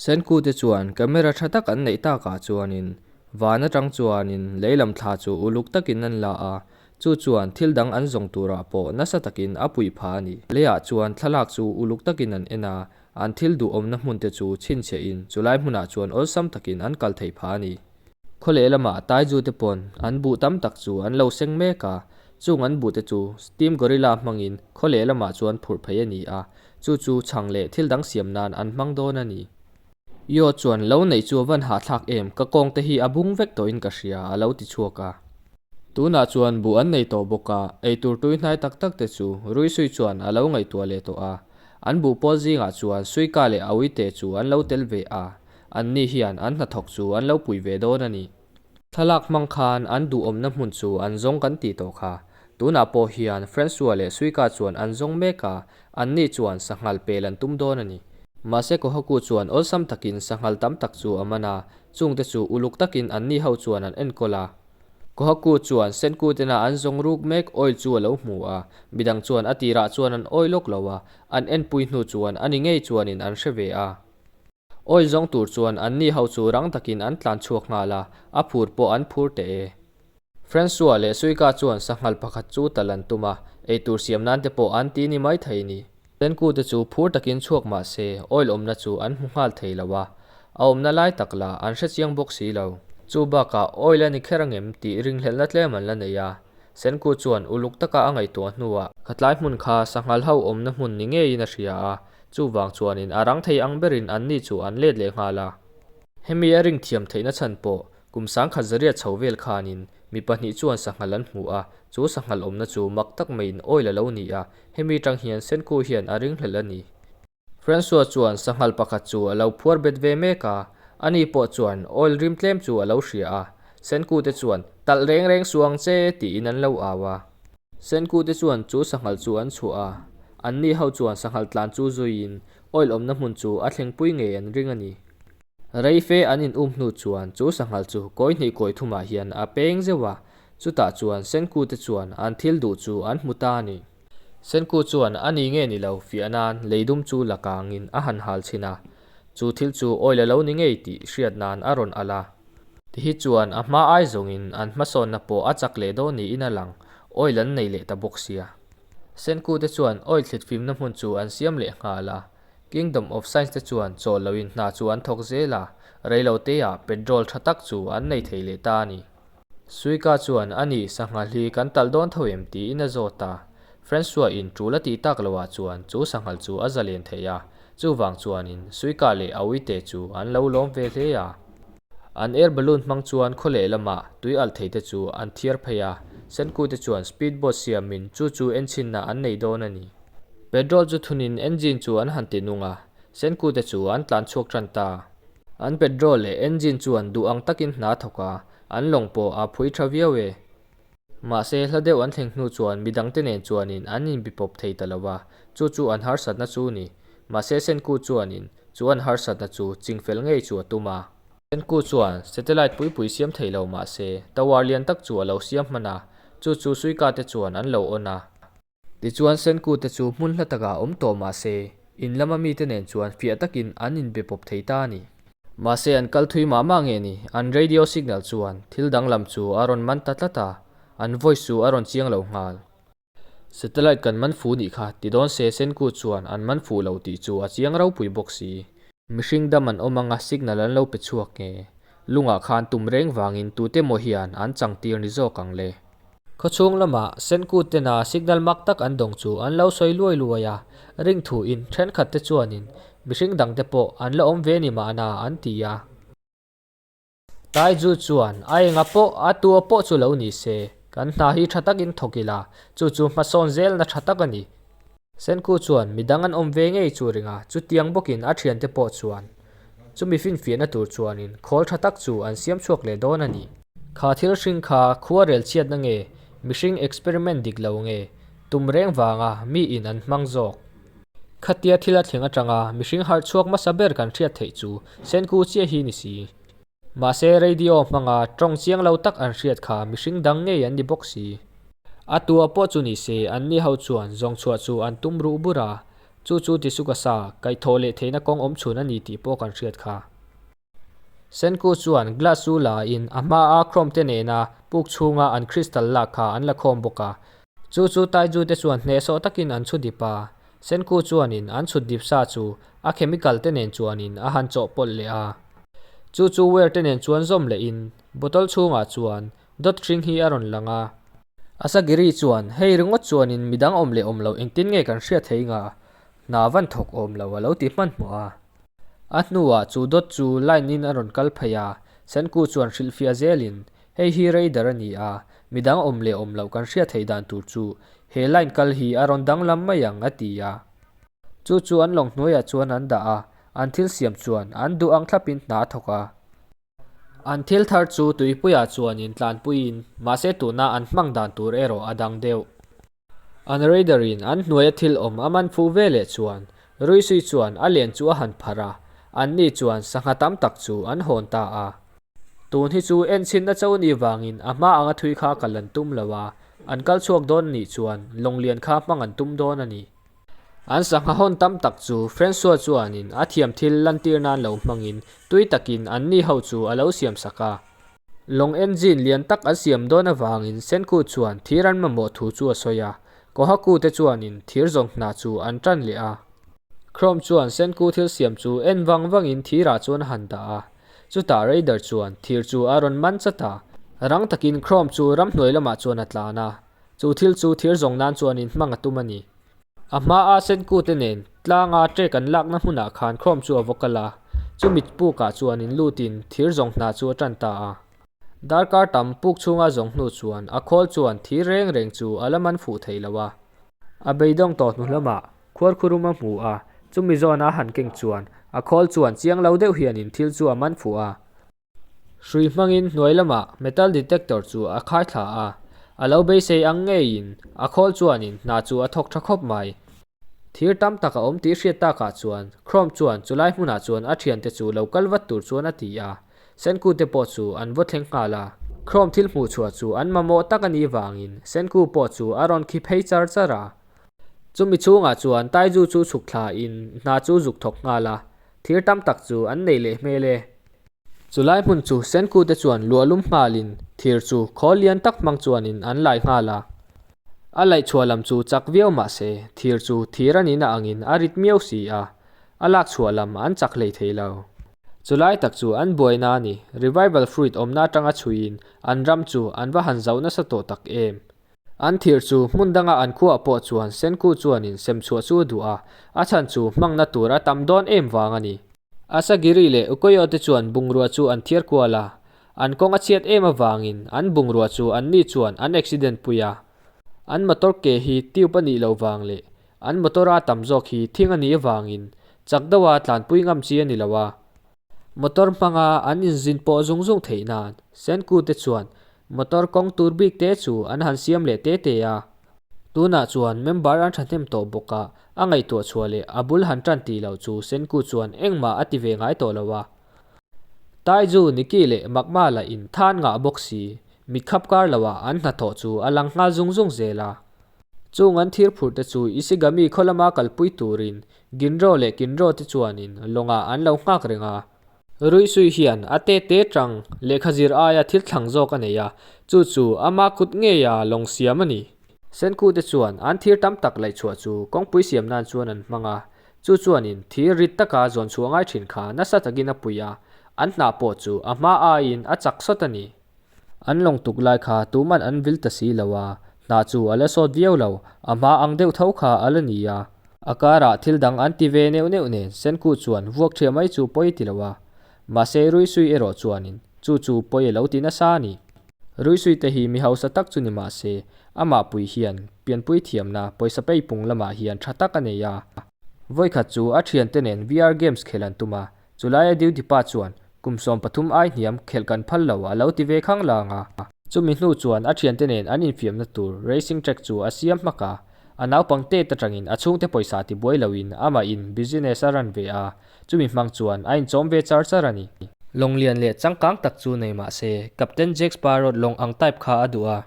Senku te chuan camera tha tak an neih tak ah chuanin van atang chuanin lei lam thla chu uluk takin an la a, chu chuan thil dang an zawng turah pawh nasa takin a puih pha a ni. Leiah chuan thlalak chu uluk takin an en a, An thil duhawmna hmunte chu chhinchhiahin chulai hmunah chuan awlsam takin an kal thei pha a ni. Khawleh lama taizute pawn an buh tam tak chu an lo seng mek a, chung an buhte chu steam gorilla hmangin khawleh lamah chuan phurh phei a ni a, chu chu chhang leh thil dang siam nan an hmang dawn a ni. Yaw chuan, Lo neih chu a van hahthlak em, ka kawngte hi a bung vek tawhin ka hria, a lo ti chhuak a. Tunah chuan buh an nei tawh bawk a, eitur tuihnai tak takte chu Ruisui chuan a lo ngaihtuah leh tawh a, An buh pawl zingah chuan suika leh a uite chu an lo tel ve a, anni hian an hnathawk chu an lo pui ve dawn a ni. Thlalak hmang khan an duhawmna hmun chu an zawng kan ti tawh kha. Tunah pawh hian Francois leh suika chuan an zawng mek a, anni chuan sanghngal pel an tum dawn a ni. Mahse ka haw-ku chuan awlsam takin sanghngal tam tak chu a man a, chungte chu uluk takin anni ho chuan an enkawl a. Kohaku chuan Senkutena an zawng ruk mek awi chu a lo hmu a, midang chuan a tirah chuan an awi lawk lo a, an enpui hnu chuan a ni ngei chuanin an hre ve a. Awi zawng tur chuan an ni ho chu rang takin an tlan chhuak nghal a, a phur pawh an phur teh e. Francois leh Suika chuan sanghal pakhat chu ta lan tum a, eitur siam nan te pawh an ti ni mai thei ni. Tenku te chu phur takin chhuak mah se, oil awmna chu an hmu nghal thei lo a, a awmna lai tak la an hre chiang bawk si lo. Chu bakah oil a ni kher angem tih ringhlelhna tlem an la nei a, Senku chuan uluk taka a ngaihtuah hnuah, a tlai hmun kha sangha hlo awmna hmun ni ngeiin a hria a, chuvang chuanin a rang thei ang berin anni chu an let leh nghal a. Hemi a ringthiam theihna chhan pawh kum sangkhat zariat chho vel khanin mi pahnih chuan sanghalh an hmu a, chu sanghalh awmna chu mak tak maiin oil a lo ni a, Hemi tang hian Senku hian a ring hlelh a ni. Francois chuan sanghal pakhat chu a lo phuar bet ve mek a, a ni pawh chuan oil rim tlem chu a lo hria a. Senku te chuan, Talh reng reng suh ang che, tiin an lo au a. Senku te chuan chu sanghal chu an chhuah a, anni ho chuan sanghal tlan chu zuiin oil awmna hmun chu a thlengpui ngei an ring a ni. Reife an in um hnu chuan chu sanghal chu kawi hnih kawi thum ah hian a peng zeuh a, chutah chuan Senku te chuan an thil duh chu an hmu ta a ni. Senku chuan a ni nge ni lo fiah nan lei dum chu la kang in a han hal chhin a, chu thil chu awi la lo ni ngei tih hriat nan a rawn alh a. Ti hi chuan a hma ai zawng in an hmasawn na pawh a chak leh dawn ni in a lang, awi lan nei leh ta bawk sia. Senku te chuan awi thlit fim na hmun chu an siam leh nghal a, Kingdom of Science te chuan chawl lo in hna chu an thawk zel a, reilo te ah petrol tha tak chu an nei thei leh ta a ni. Suika chuan a ni sangha hli kan talh dawn tho em tiin a zawt a, Francois in tul a tih tak lo ah chuan chu sanghal chu a za len thei a, chuvang chuan in Suika leh a ui te chu an lo lawm ve hle a, an air balloon hmang chuan khaw leh lam ah tui alh thei te chu an thiar phei a, Senkui te chuan speed boat siam in chu chu enchin ah an nei dawn a ni. Petrol chu thunin engine chu an han tih nung a, Senkute chu an tlan chhuak ṭan ta. An petrol leh engine chuan duh ang takin hna thawk a, an lawng pawh a phui ṭha viau e. Mahse, hla deuh an thleng hnu chuan mi dangte nen chuanin an inbi pawp thei ta lo a, chu chu an harsatna chu ni. Mahse, Senkute chuanin chu an harsatna chu ching fel ngei chu a tum a. Senkute chuan satellite pui pui siam thei lo mahse, tower lian tak chu a lo siam hman a, chu chu suikate chuan an lo awn a. Tichuan Senku te chu hmun hla takah awm tawh mah se, in lama mite nen chuan fiah takin an in be pawp thei ta a ni. Mahse an kal thui mah mah nge ni, an radio signal chuan thil danglam chu a rawn man ta tlat a, an voice chu a rawn chiang lo nghal. Satellite kan man fu nih kha, ti dawn se Senku chuan an man fuh lo tih chu a chiang ropui bawk si. Mihring dam an awm anga signal an lo pe chhuak nge, lungah khan tum reng vangin tute maw hian an changtir ni zawk ang le. Khawchhung lama Senkut tena signal mak tak an dawng chu an lo sawi luai luai a, ring thu in thenkhat te chuanin mihring dang te pawh an la awm ve ni mahna an ti a. Taiju chuan a enga pawh a tua pawh chu lo ni se, kan hna hi tha takin thawk ila, chu chu hmasawn zelna tha tak a ni. Senkhu chuan midang an awm ve ngei chu a ring a, chutiang bawkin a thiante pawh chuan chu mi finfiahna tur chuanin khawl tha tak chu an siam chhuak leh dawn a ni. Kha thil hring kha khuarel chhiatna nge, mihring experiment dik lo nge, tum reng vanga mi in an hmang zawk. Khatia thil a thleng atanga mihring harh chhuak hmasa ber kan hriat theih chu Senkhu chiah hi ni si. Mahse, radio hmanga ṭawng chiang lo tak an hriat kha mihring dang ngei an ni bawk si. A tua pawh chu nise, an ni ho chuan zawng chhuah chu an tum ruh bur a, chu chu ti su ka sa, kaih thawh leh theihna kawng awm chhun a ni tih pawh kan hriat kha. Senku chuan glass u la in a hma a chrome te nena puk chhunga an crystal lak kha an la khawm bawk a, chu chu Taizute chuan hnehsawh takin an chhudip a, Senku chuanin an chhut dip sa chu a chemical te nen chuanin a han chawh pawlh leh a. Chu chu wire te nen chuan zawm leh in bottle chhungah chuan dot hring hi a rawn lang a. Asagiri chuan hei ringawt chuanin midang awm leh awm lo engtin nge kan hria thei nga hna van thawk awm lo a lo ti hman hmawh a. A hnuah chu dot chu line in a rawn kal phei a, Senku chuan hrilh fiah zelin Hei hi radar a ni a, midang awm leh awm loh kan hriat theih dan tur chu he line kal hi a rawn danglam mai ang, a ti a. Chu chu an lawng hnuaiah chuan an dah a, an thil siam chuan an duh ang thlapin hna a thawk a. An thil thar chu tuipuiah chuanin tlanpuiin mahse tuna an hmang dan tur erawh a dang deuh. An Raider in an hnuaia thil awm a man phu ve leh chuan Ruisui chuan a len chu a han pharh a, an ni chuan sangha tam tak chu an hawn ta a. Tun hi chu en chhin na cho ni vangin a hma anga thui kha kal an tum lo a, an kal chhuak dawn a nih chuan lawngluan kha hmang an tum dawn a ni. An sangha hawn tam tak chu Francois chuanin a thiam thil lantir nan lo hmangin tui takin an ni ho chu a lo siam sak a, Long engine lian tak an siam dawn avangin Senkut chuan thir an mamawh thu chu a sawi a, Kohaku te chuanin thir zawng hna chu an tan leh a. Chrome chuan Senku thil siam chu en vang vangin thirah chuan a han dah a, chutah Raider chuan thir chu a rawn man chat a, rang takin Chrome chu ram hnuai lamah chuan a tlan a. Chu thil chu thir zawng nan chuanin hmang a tum a ni. A hmaa Senkute nen tlanga trek an lakna hmunah khan Chrome chu a vaw kal a, chu mit pukah chuanin lutin thir zawng hna chu a tan ta a. Darkar tam puk chhunga zawng hnu chuan a khawl chuan thir reng reng chu a la man fuh thei lo a. A beidawng tawh hnu hlama khuar khurum a hmu a, chumi zawn a han keng chuan a khawl chuan chiang lo deuh hianin thil chu a man fuh a. Hrui hmangin hnuai lamah metal detector chu a khai thla a, a lo beisei ang ngeiin a khawl chuanin hna chu a thawk tha khawp mai. Thir tam tak a awm tih hriat takah chuan Chrome chuan chulai hmunah chuan a thiante chu lo kal vat tur chuan a ti a, Senku te pawh chu an vaw thleng nghal a. Chrome thil hmuh chhuah chu an mamawh tak a nih vangin Senku pawh chu a rawn khi phei char char a. Chumi chhungah chuan Taizu chu chhuk thlain hna chu zuk thawk nghal a, thir tam tak chu an neih leh hmel e. Chu lai hmun chu Senku te chuan luahlum nghal in thir chu khawl lian tak hmang chuan in an lai nghal a. A laih chhuah lam chu chak viau mah se, thir chu thir a nin a ang in a rit miau si a, a lak chhuah lam an chak hlei thei lo. Chu lai tak chu an buaina a ni, revival fruit awmna atang a chhui in an ram chu an va han zauh nasa tawh tak em. An thir chu hmun danga an khuaa pawh chuan Senku chuanin sem chhuah chu a duh a, a chhan chu hmangna tur a tam dawn em vang a ni. Asagiri leh Ukoyo te chuan bungrua chu an thiar kual a, an kawng a chhiat em avangin an bungrua chu anni chuan an accident pui a. An motor ke hi tube a nih loh vang leh an motor a tam zawk hi thing a nih avangin chak deuha tlanpui ngam chi a ni lo a, Motor hmanga an inzin pawh zung zung theih nan, Senkute chuan motor kawng tur bik te chu an han siam leh te te a, tunah chuan member an thahnem tawh bawk a, a ngaihtuah chhuah leh a bul han tan tih loh chu Senkute chuan engmah a ti ve ngai tawh lo a. Taiju, Nicky leh Makmala in than ngah bawk si, mitkhap kar lo a an hnathawh chu a lang nghal zung zung zel a. Chung an thir phurhte chu Ishigami khawlama kalpui turin Ginro leh Kinro te chuanin lawngah an lo nghak reng a. Ruihsui hian a te te chang lehkha zir aia thil thlang zawk a nei a, chu chu ama kut ngeia lawng siam a ni. Senku te chuan an thir tam tak laih chhuah chu kawngpui siam nan chuan an hmang a, chu chuanin thir rit taka zawn chhuah ngai thin kha nasa takin a pui a, an hnah pawh chu a hma aiin a chak sawt a ni. An lawng tuk lai kha tuman an vil ta si lo a, hna chu a la sawt viau lo, a hma ang deuh tho kha a la ni a. A karah thil dang an ti ve neuh neuh nen Senkut chuan vuak ṭhia mai chu pawi ti lo a, mahse Ruisui erawh chuanin chu chu pawi a lo ti nasa a ni. Ruisui te hi mi hausa tak chu ni mahse, amah pui hian pianpui thiamna pawisa pei pung lamah hian ṭha tak a nei a. Vawikhat chu a ṭhiante nen VR games khelh an tum a, Chu laia duty pa chuan kum sawm pathum ai hniam khelh kan phal lo a lo ti ve khang lang a. Chumi hnu chuan a thiante nen an infiamna tur racing track chu a siam hmak a, a naupang têt aṭangin a chhungte pawisa ti buai loin amah in business a run ve a, chumi hmang chuan a inchawm ve char char a ni. Lawng lian leh changkang tak chu nei mah se, Captain Jack Sparrowt lawng ang type kha a duh a.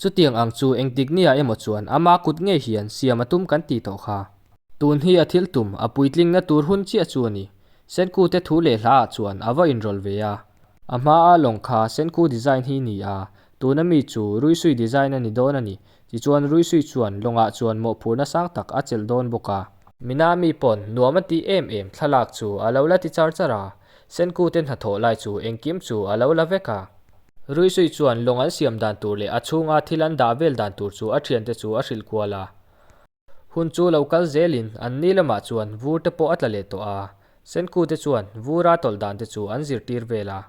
Chutiang ang chu engtik nia emaw chuan ama kut ngei hian siam a tum kan ti tawh kha. Tun hi a thil tum, a puitlingna tur hun chiah chu a ni. Senkute thu leh hla ah chuan a va inrawlh ve a. A hma a lawng kha Senku design hi ni a, tun a mi chu Ruisui design a ni dawn a ni. Tichuan Ruisui chuan lawng ah chuan mawhphurhna sang tak a chelh dawn bawk a. Mina mi pawn nuam a tih em em thlalak chu a lo la ti char char a, Senkute hnathawh lai chu engkim chu a lo la vek a. Ruisui chuan lawng an siam dan tur leh a chhunga thil an dah vel dan tur chu a thiante chu a hrilh kual a. Hun chu lo kal zelin an ni lamah chuan vur te pawh a tla leh tawh a, Senku te chuan vura tawlh dan te chu an zirtir vel a.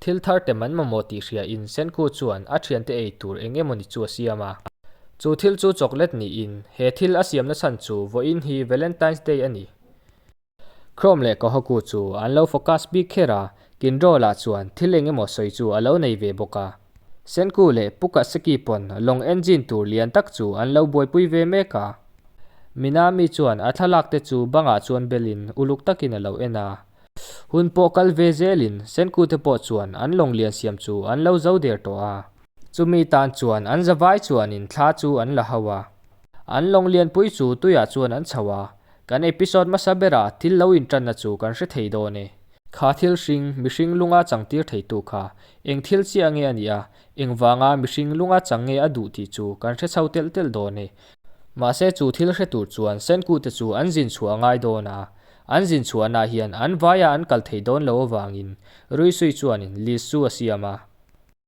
Thil thar te man mamawh tih hria in Senku chuan a thian te ei tur eng emawni chu a siam a. Chu thil chu chocolate niin he thil a siamna chhan chu vawiin hi Valentine's Day a ni. Chrome leh Kohaku chu an lo focus bik kher a, Kindle ah chuan thil eng emaw sawi chu a lo nei ve bawk a. Senku leh Pukaseki pawn lawng engine tur lian tak chu an lo buaipui ve mek a. Minami chuan a thlalak te chu bangah chuan bel in uluk tak in a lo en a. Hun pawh kal ve zel in Senku te pawh chuan an lawng lian siam chu an lo zo der tawh a. Chumi tan chuan an zavai chuan in thla chu an la hau a. An lawng lianpui chu tuiah chuan an chho a, Kan episode hmasa bera thil lo intanna chu kan hre thei dawn e. Kha thil hring, mihring lunga changtir theitu kha, eng thil chiah nge a nih a, engvanga mihring lunga chang nge a duh tih chu kan hre chho telh telh dawn e. Mahse chu thil hre tur chuan Senkute chu an zin chhuah a ngai dawn a, an zin chhuahna hian an vaia an kal thei dawn lo avangin Ruisui chuanin Liz chu a siam a.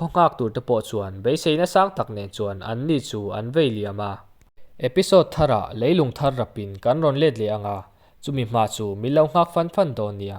Khawngak tur te pawh chuan beiseina sang tak nen chuan an ni chu an vei liam a. Episode thar ah lei lung thar rap in kan rawn let leh anga chumi hma chu min lo nghak fan fan dawn nia.